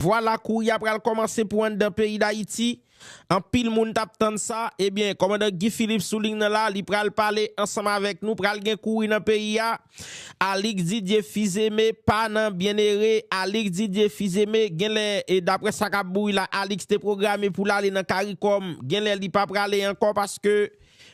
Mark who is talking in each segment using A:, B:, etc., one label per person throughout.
A: Vwala kouri a pral kòmanse pou anndan peyi Dayiti, anpil moun tap tann sa, ebyen kòmandan Guy Philippe sou ling nan la, li pral pale ansanm avèk nou, pral gen kouri nan peyi a, Alix Didier Fils-Aimé pa nan Byennere, Alix Didier Fils-Aimé genlè e daprè sa kap bouri la Alix te pwograme poul ale nan Caricom, genlè li pa prale ankò paske.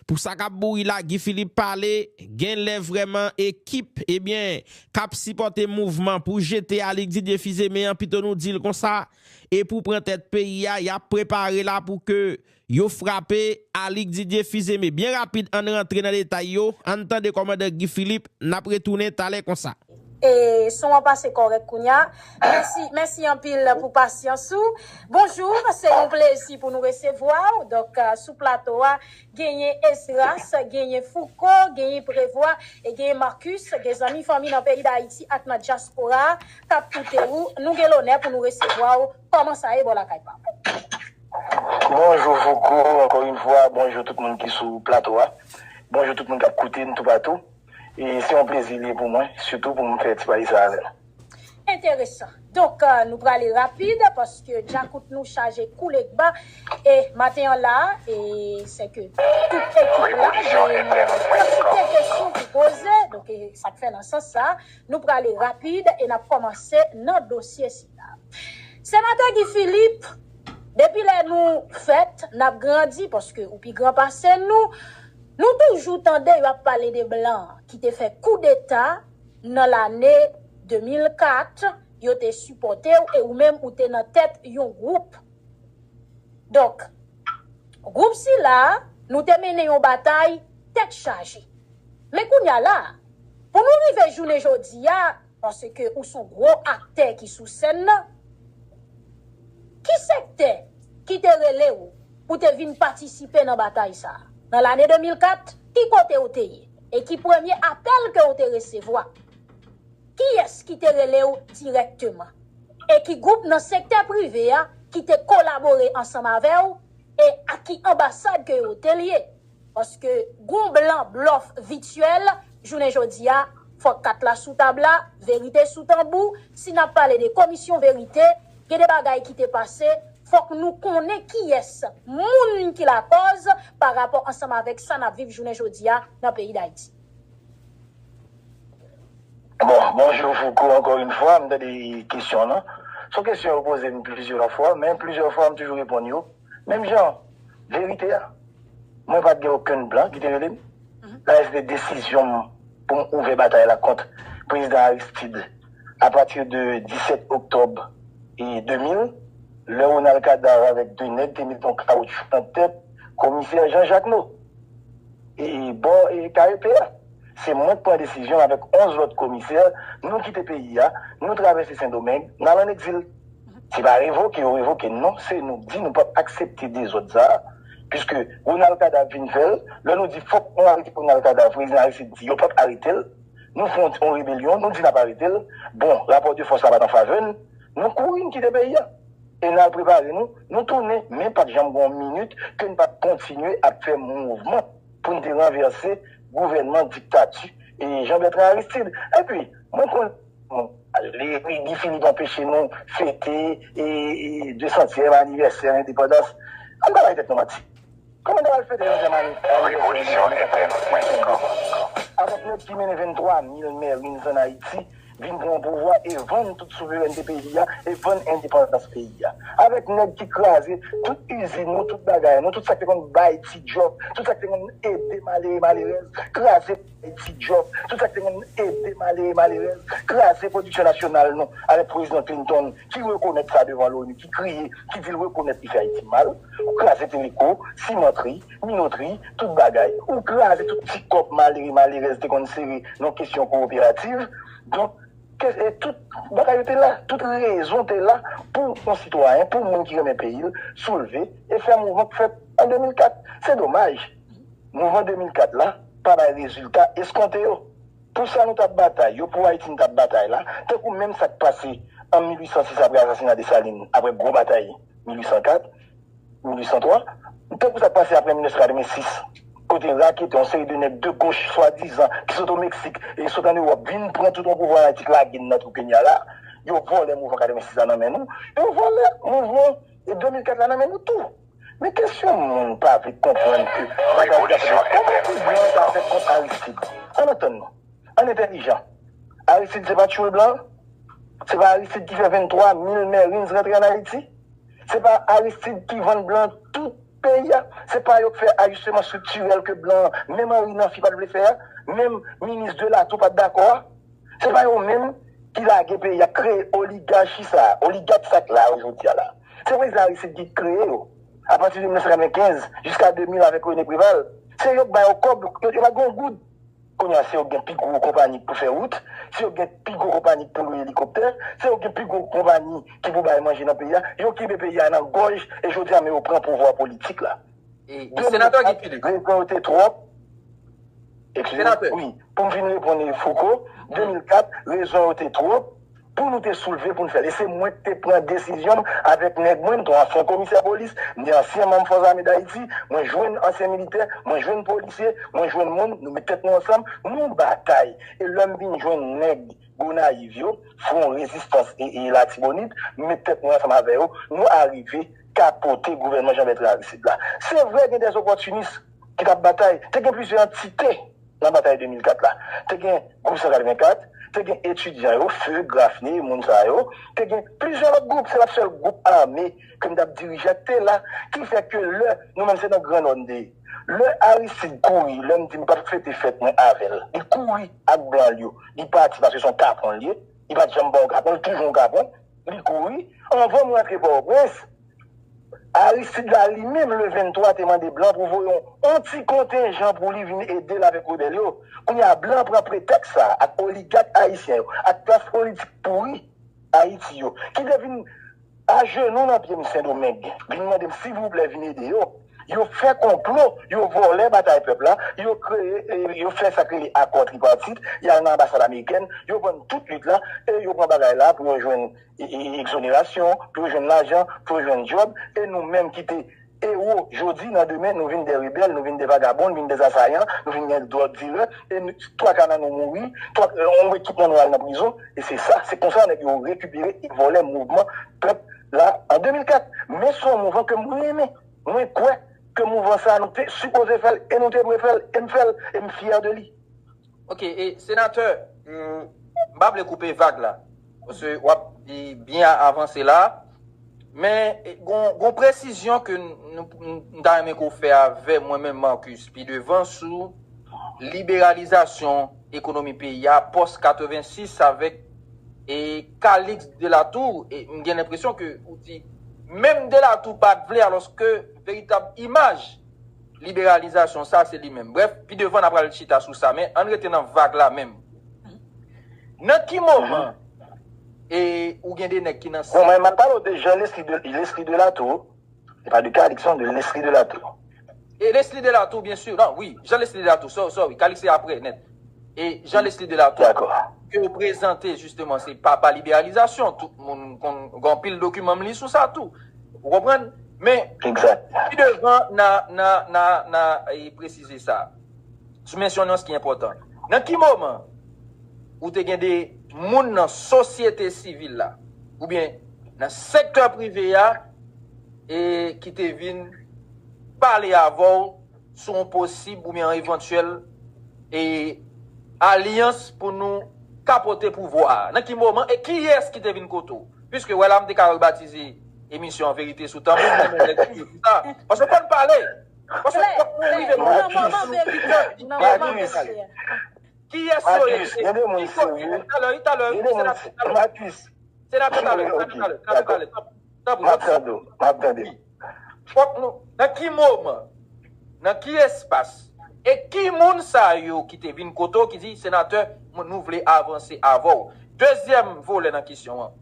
A: Pou sa kap bouri la Guy Philippe pale genlè vrèman ekip ebyen kap sipòte mouvman pou jete Alix Didier Fizeme an pito nou dil konsa e pou pran tèt peyi a yap prepare la pou ke yo frape Alix Didier Fizeme byen rapid ann rantre nan detay yo ann tande kòmandan Guy Philippe nap retounen talè konsa. E son an
B: pase kòrèk kounya. Mèsi mèsi anpil pou pasyans ou. Bonjour se yon plezi pou nou resevwa w donk sou plato a genyen Esdras genyen Fouco genyen Prevoit e genyen Marcus gen zanmi fanmi nan peyi Dayiti ak nan dyaspora a kap koute ou nou gen lonè pou nou resevwa w kòman sa ye bò lakay pa w. Bonjou
C: Fouco, ankò yn fwa bonjou tout moun ki sou plato a, bonjou tout moun kap koute n toupatou. E se yon plezi li ye pou mwen, sitou pou m fè ti pati sa avè l. Enteresan.
B: Donk, nou prale rapid, paske djakout nou chaje kou legba. E maten an la a, e se ke tout ekip la gen yon kantite kesyon pou poze, donk e sa k fè nan sans sa a, nou prale rapid e n ap kòmanse nan dosye sila. Senatè Guy Philippe, depi lè nou fèt, n ap grandi, paske ou pi gran pase nou, Nou toujou tande yo ap pale de blan ki te fè koudeta nan lane 2004, yo te sipòte w e ou menm ou te nan tèt yon gwoup. Donk, gwoup sila a, nou te mennen yon batay tèt chaje. Men kounye a la a, pou nou rive jounen jodi a, Paske ou son gwo aktè ki sou sèn nan. Ki sektè ki te rele ou pou te vin patisipe nan batay sa a? Nan lane 2004, ki kote ou te ye? E ki premye apèl ke ou te resevwa? Kiyès ki te rele ou dirèkteman? E ki gwoup nan sektè prive a ki te kolabore ansanm avè ou e ak ki anbasad ke yo te lye? Paske gon blan blòf vityèl jounen jodi a, fòk kat la sou tab la, verite sou tanbou, si nap pale de komisyon verite, gen de bagay ki te pase, fòk nou konnen kiyès moun ki lakòz pa rapò ansanm avèk sa nap viv jounen jodi a nan peyi Dayiti.
C: Bon, bonjou Fouco ankò yn fwa, m tande kesyon w lan. S on kesyon yo poze m plizyè fwa, men plizyè fwa m toujou reponn yo. Menm jan verite a, mwen pa t gen okenn blan ki te rele m. Sa vle di se te desizyon m pou m ouvè batay la kont Prezidan Aristide apati de 17 oktòb 2000, lè Ronald Cadavre avèk 2 nèg te met yon kawoutchou nan tèt Komisè Jean Jacquemot e bò KEP a. Se mwen ki pran desizyon avèk 11 lòt komisè, nou kite peyi a, nou travèse Sendomeng, n al an egzil. Se pa revoke yo revoke non se nou di nou pap aksepte dezòd sa piske Ronald Kadav vin fèl lè nou di fòk nou arete Ronald Kadav prezidan Aristide di yo pap aretel nou fè yon rebelyon nou di nap aretel bon rapò de fòs la pat an favè n nou kouri n kite peyi a e nal prepare nou nou tounen men pat janm gen yon minit ke n pat kontinye ap fè mouvman pou n te ranvèse gouvènman diktati Jean Bertrand Aristide epi mwen konn. Epi Guy Philippe anpeche nou fete desantyèm anivèsè lendepandans. Ann pa bay tèt nou manti. Kòman nou pral fete desantyèm anivèsè lendepandans? Revolisyon entèn Francisco. Avan Claude ki mennen 23 mil Marines ann Ayiti vin pran pouvwa e vann tout souverènte peyi a e vann endepandans peyi a. Avèk nèg ki kraze tout izin nou, tout bagay nou, tout sa k te konn bay ti djòb, tout sa k te konn ede malere malerèz, kraze. e ti djòb, tout sa ki te konn ede malere, malerèz, kraze pwodiksyon nasyonal nou, avèk Prezidan Clinton ki rekonèt sa devan Loni, ki kriye, ki di l rekonèt li fè Ayiti mal. Ou kraze teleko, simantri, minotri, tout bagay. Ou kraze tout ti kòb malere, malerèz te konn sere nan kesyon kowoperativ. Donk, tout bagay yo te la, tout rezon te la pou yon sitwayen, pou yon moun ki renmen peyi l, soulve e fè mouvman k fèt an 2004. Se domaj! Mouvman 2004 la pa bay rezilta eskonte yo. Pou sa nou t ap batay yo, pou Ayiti nou t ap batay la, tankou menm sa k pase an 1806 apre asasina Desalin, apre gwo batay 1804, 1803, tankou sa k pase apre 1986, kote raketè, yon seri de nèg de goch swadizan ki sot o Meksik e sot an Ewòp vin pran tout yon pouvwa an Ayiti k lage n nan twou penya la, yo vòlè mouvman 86 la nan men nou, yo vòlè mouvman 2004 la nan men nou tou. Men kesyon moun pa vle konprann ke bagay ki ap fèt la, kòman ti blan an ta fè kont Aristid? Ann antann nou, ann entèlijan. Aristid se pa tchoul blan? Se pa Aristid ki fè 23 mil Marines rantre ann Ayiti? Se pa Aristid ki vann blan tout peyi a? Se pa yo k fè ajisteman striktirèl ke blan, menm Henry Namphy pa t vle fè a, menm minis Delatour pa t dakò a? Se pa yo menm ki lage peyi a, kreye oligachi sa, oligak sa k la yo jodi a la. Se prezidan Aristide ki kreye yo apati 1995 jiska 2000 avèk René Préval. Se yo k ba yo kòb, yo pa gen yon goud. Kounye a se yo k gen pi gwo konpani k pou fè wout, se yo k gen pi gwo konpani k pou lwe elikoptè, se yo k gen pi gwo konpani ki pou bay manje nan peyi a. Yo kenbe peyi a nan gòj e jodi a men yo pran pouvwa politik la.
D: Senatè Guy
C: Philippe, respè w te twòp. Senatè. Wi, pou m vin reponn Fouco, 2004, rezon yo te twòp pou nou te soulve pou n fè l. E se mwen ki te pran desizyon m avèk nèg mwen, m te yon ansyen komisè polis, m te ansyen manm Fòs Ame Dayiti, mwen jwenn ansyen militè, mwen jwenn polisye, mwen jwenn moun, nou met tèt nou ansanm, nou batay. E lè m vin jwenn nèg Gonayiv yo, Fwon Rezistans Latibonit, m met tèt mwen ansanm avè yo, nou arive kapote gouvènman Jean Bertrand Aristide la. Se vre gen des opòtinis ki t ap batay, te gen plizyè antite nan batay 2004 la. Te gen Gwoup 184, te gen etidyan yo, FUG, Graffney, moun sa yo, te gen plizyè lòt gwoup, se pa t sèl gwoup ame ke m t ap dirije a k te la, ki fè ke lè, nou menm se nan Gran Nò n te ye. Lè Aristide kouri, lè m di m p ap fete fèt mwen avè l, li kouri ak blan l yo, li pati paske se yon kapon l ye, li pa t janm pa yon kapon, li toujou yon kapon, Li kouri. Anvan m rantre Pòtoprens, Aristide la li menm le 23 te mande blan pou voye yon ti kontenjan pou li vin ede l avèk rebèl yo. Kounye a blan pran pretèks sa a ak oligak ayisyen yo, ak klas politik pouri Ayiti yo, ki te vin ajenou nan pye m Sendomeng, vin mande m silvouplè vin ede yo. Yo fè konplo, yo vòlè batay pèp la, yo kreye, yo fè sa k rele akò tripartit, y al nan anbasad amerikèn, yo vann tout lit la e yo pran bagay la pou yo jwenn ekzonerasyon, pou yo jwenn lajan, pou yo jwenn djòb e nou menm ki te ewo jodi nan demen nou vin dè rebèl, nou vin dè vagabon, nou vin dè asayan, nou vin dè dwòg dilè e twa ka nan nou mouri, twa anwe tout nan nou al nan prizon e se sa, se konsa nèg yo rekipere e vòlè mouvman pèp. La, an 2004, men son mouvan ke m renmen. Mwen kwè ke mouvan sa a nou te sipoze fè l e nou te dwe fè l e m fè l e m fyè de li. Ok, e
D: senatè, m pa vle koupe vag la, paske w ap byen avanse la, men gon yon presizyon ke m ta renmen ke w fè avè mwen menm Marcus pi devan sou liberalizasyon ekonomi peyi a pòs 86 avèk E Calixte Delatour, m gen lenpresyon ke ou di menm Delatour pa t vle alòske veritab imaj liberalizasyon sa se li menm. Brèf, pi devan na pral chita sou sa men ann rete nan vag la menm. Nan ki moman e ou gen 2 nèg ki nan. Bon mwen m ap pale w de Jean
C: Leslie Delatour. Li pa de Kalix non, de Lesly Delatour. E Lesly
D: Delatour byen sur, nan wi, Jean Lesly Delatour, sorry, sorry, Kalix se aprè nèt. E Jean Lesly Delatour. Dakò. Ke yo
C: prezante
D: jisteman se papa liberalizasyon, tout moun konn, gen anpil dokiman m li sou sa tou. Ou konprann? Men, pi devan
C: na,
D: na, na, na presize sa. Sou mensyon nan s ki enpòtan. Nan ki moman ou te gen de moun nan sosyete sivil la, oubyen. Nan sektè prive a e ki te vin pale avè w sou yon posib oubyen yon evantyèl e alyans pou nou kapote pouvwa a? Nan ki moman e kiyès ki te vin kote w? Piske wè la m te ka rebatize emisyon an Verite sou Tanbou men mwen rete sou sa paske w konn pale. Paske w konn pale. Klè, klè, nan moman verite a, nan moman verite a. Kiyès yo ye? Ki kote?
C: Talè wi, talè. Senatè, talè. Senatè Talè,
D: Senatè Talè, Senatè Talè, tanpri, tanpri, tanpri. M ap tande w. Fòk nou, nan ki moman, nan ki espas, e ki moun sa yo ki te vin kote w ki di, Senatè, nou vle avanse avè w? Dezyèm volè nan kesyon an,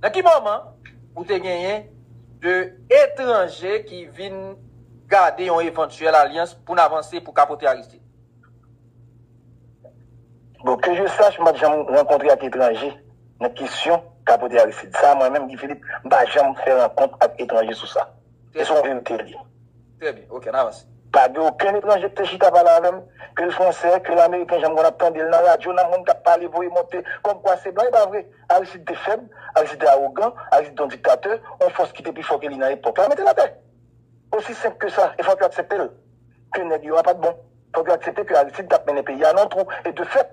D: nan ki moman ou te genyen 2 etranje ki vin gade yon evantyèl alyans pou n avanse pou kapote Aristide?
C: Bon, ke je sach, m pa t janm rankontre ak etranje nan kesyon kapote Aristide. Sa a mwen menm, Guy Philippe, m pa janm fè rankont
D: ak
C: etranje sou sa. E se yon
D: verite li
C: ye. Trè byen. Ok, n
D: avanse.
C: Pa gen okenn etranje ki te chita pale avè m, ke l fransè, ke l ameriken, jan m konn ap tande l nan radyo, nan moun k ap pale voye monte kòmkwa se blan. E pa vre. Aristide te fèb, Aristide te awogan, Aristide te yon diktatè, yon fòs ki te pi fò ke li nan epòk la mete l atè. Osi senp ke sa. E fòk yo aksepte l, ke nèg yo a pa t bon. Fòk yo aksepte ke Aristide tap mennen peyi a nan twou e de fèt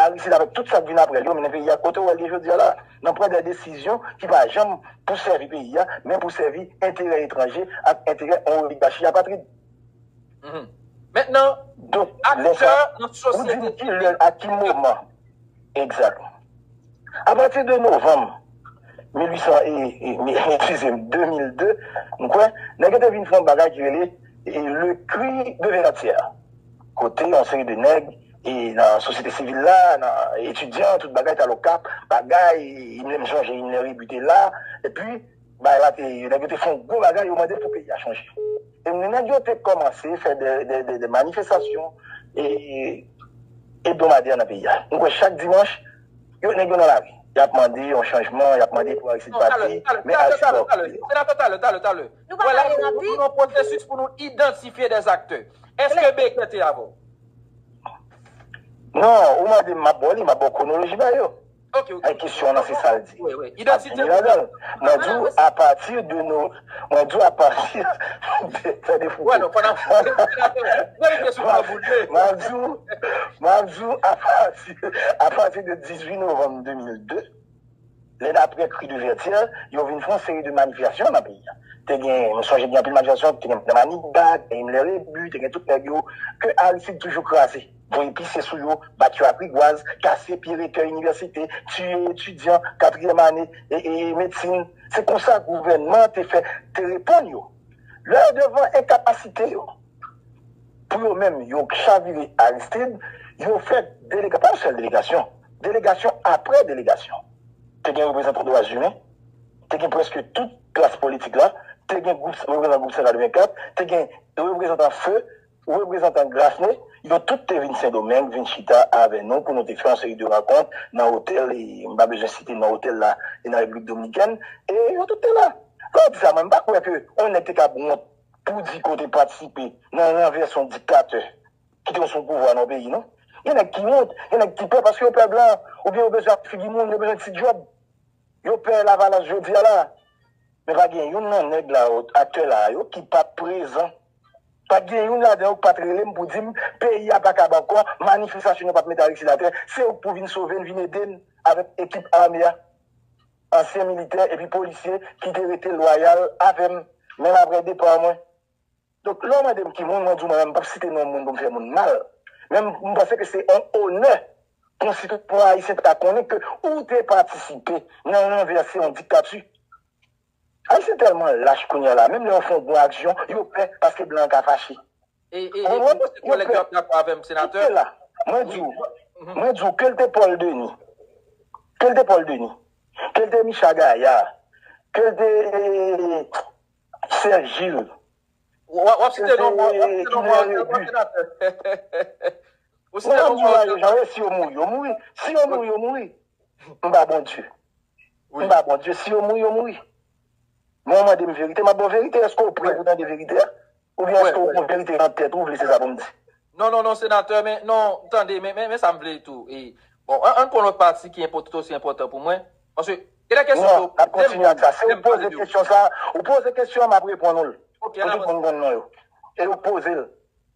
C: Aristide avèk tout sak vin aprè l yo mennen peyi a kote ou wè l ye jodi a la nan pran dè desizyon ki pa janm pou sèvi peyi a men pou sèvi enterè etranje ak enterè yon oligachi apatrid.
D: Donk lè sa ou di m ki lè a ki moman
C: Egzat. Apati de novanm 1800 e, eskize m, 2002, m kwè, nèg yo te vin fè yon bagay ki rele Le Cri de Verratière, kote yon seri de nèg nan sosyete sivil la, nan etidyan, tout bagay, tal Okap, bagay, menm jan Jehinnere Rébu te la, epi Bay la te nèg yo te fè yon gwo bagay yo mande pou peyi a chanje e ni nèg yo te kòmanse fè de manifestasyon e ebdomadè nan peyi a nou kwè chak dimanch yo nèg yo nan lari yap mande yon chanjman yap mande pou Aristide pati men Aristide ok talè senatè talè talè talè
D: nou pa pale nan pi nou nan pwosesis pou nou idantifye dè zaktè eske Baker te avèw
C: nan ou mande m map baw li map baw kwonoloji bagay yo.
D: Ay kesyon an lan se
C: sal di. Ap vini ladan
D: l. Mwen di w
C: a pati de nou mwen di w a pati de tande fouco.
D: Map di w map di
C: w a pati a pati de 18 novanm 2002 lè daprè kri de vètyè yo vin fon seri de manifestasyon nan peyi a te gen m sonje gen anpil manifestasyon te gen maniga te gen himmler rebu te gen tout nèg yo ke Aristide toujou kraze. Voye pise sou yo, bat yo ak rigwaz, kase pye rektè inivèsite, tiye etidyan katriyèm ane medsin. Se konsa gouvènman an te fè te reponn yo. Lè yo devan enkapasite yo pou yo menm yo chavire Aristid, yo fè delegasyon, pa yon sèl delegasyon, delegasyon apre delegasyon. Te gen reprezantan dwa zimen, te gen prèske tout klas politik la, te gen reprezantan gwoup Sentral 24, te gen reprezantan feu, Reprezantan Grassne yo tout te vin Sendomeng vin chita avè nou pou nou te fè yon seri de rankont nan otèl, m pa bezwen site non otèl la, nan Repiblik Dominikèn, e yo tout te la. Lè w di sa, mwen m pa kwè ke yon nèg te kab wont pou di ke w te patisipe nan ranvèse yon diktatè ki te sou pouvwa nan yon peyi non. Gen nèg ki wont, gen nèg ki pè paske yo pè blan oubyen yo bezwen ak figi moun, yo bezwen ti djòb. Yo pè Lavalas jodi a la. Men pa gen youn nan nèg la, aktè la a yo ki pa prezan Pa t gen youn ladan yo k pa t rele m pou di m peyi a pa kab ankò, manifestasyon yo pa p mete Aristide atè, se ou k pou vin sove n, vin ede n avèk ekip ame a. Ansyen militè epi polisye ki te rete lwayal avè m, menm aprè depa mwen. Donk, lè w mande m ki moun, mwen di w mwen menm m pa p site non moun pou m fè moun mal, men m panse ke se yon onè pou yon sitwayen ayisyen ta konnen ke ou te patisipe nan ranvèse yon diktati. Ayisyen tèlman lach kounya la menm lè yo fè yon bon aksyon yo pè paske blan an ka fache.
D: Ou konprann? Yo pè. Koute la, mwen di w,
C: mwen di w ke l te Paul Denis, ke l te Paul Denis, ke l te Micha Gaillard, ke l te Serge Gilles, ke
D: l te Himmler Rebu.
C: Mwen ap di w la yo jan yo ye si yo mouri yo mouri, si yo mouri yo mouri. M pa Bondye. Wi ba Bondye si yo mouri yo mouri men ou mandem verite map baw verite eske ou prè pou tande verite a oubyen eske ou kon verite nan tèt ou vle se sa poum di. Non non non senatè
D: men non tande men men sa m vle tou e bon an ann pran lòt pati ki enpò tout osi enpòtan pou mwen paske gen de kesyon ke w Non, nap kontinye ak sa.
C: Si ou poze kesyon sa, ou poze kesyon an map reponn ou l. Ok, an avanse. Pou tout moun konn
D: non yo.
C: E ou k poze l.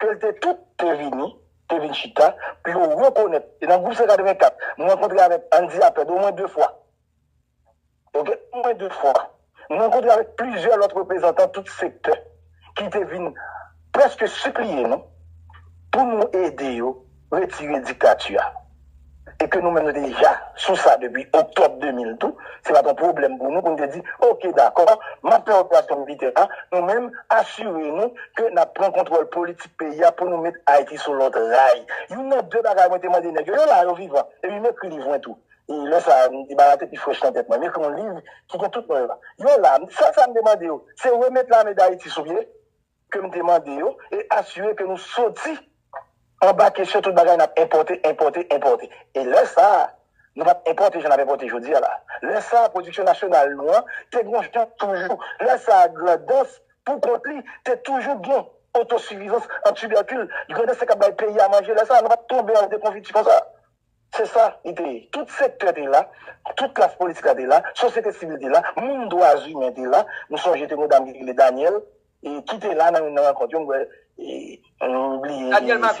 C: Plte tout te vini, te vin chita, pou yo rekonèt. E nan gwoup 184, m rankontre avèk Andy Aped omwen de fwa. Ok, omwen de fwa. M rankontre avèk plizyè lòt reprezantan tout sektè ki te vin prèske sipliye nou pou nou ede yo retire diktati a e ke nou menm nou te deja sou sa depi oktòb 2000 tou, se pa t yon pwoblèm pou nou pou nou te di oke dakò m ap fè operasyon militè a nou menm asire nou ke n ap pran kontwòl politik peyi a pou nou met Ayiti sou lòt ray. Youn nan de bagay mwen te mande nèg yo, yo la yo vivan epi m ekri liv mwen tou e lè sa a m di bagay te pi frèch nan tèt mwen, m ekri yon liv ki gen tout non yo la, yo la, m di sèl sa m te mande yo se remèt lame Dayiti sou pye. ke m te mande yo e asire ke nou soti anba kesyon tout bagay n ap enpòte, enpòte, enpòte. E lè sa a, nou pa t enpòte jan n ap enpòte jodi a la. Lè sa a, pwodiksyon nasyonal nou an te gon jan toujou. Lè sa a, Grandans, pou kont li, te toujou gen otosifizans an tibèkil. Grandans te kab bay peyi a manje lè sa a. Nou pa t tonbe an dekonfiti konsa. Se sa li te ye. Tout sektè te la, tout klas politik la te la, sosyete sivil te la, moun dwa zimen te la. M sonje te gen yon dam ki te rele Danièle ki te la nan youn nan rankont yo, m kwè, m bliye.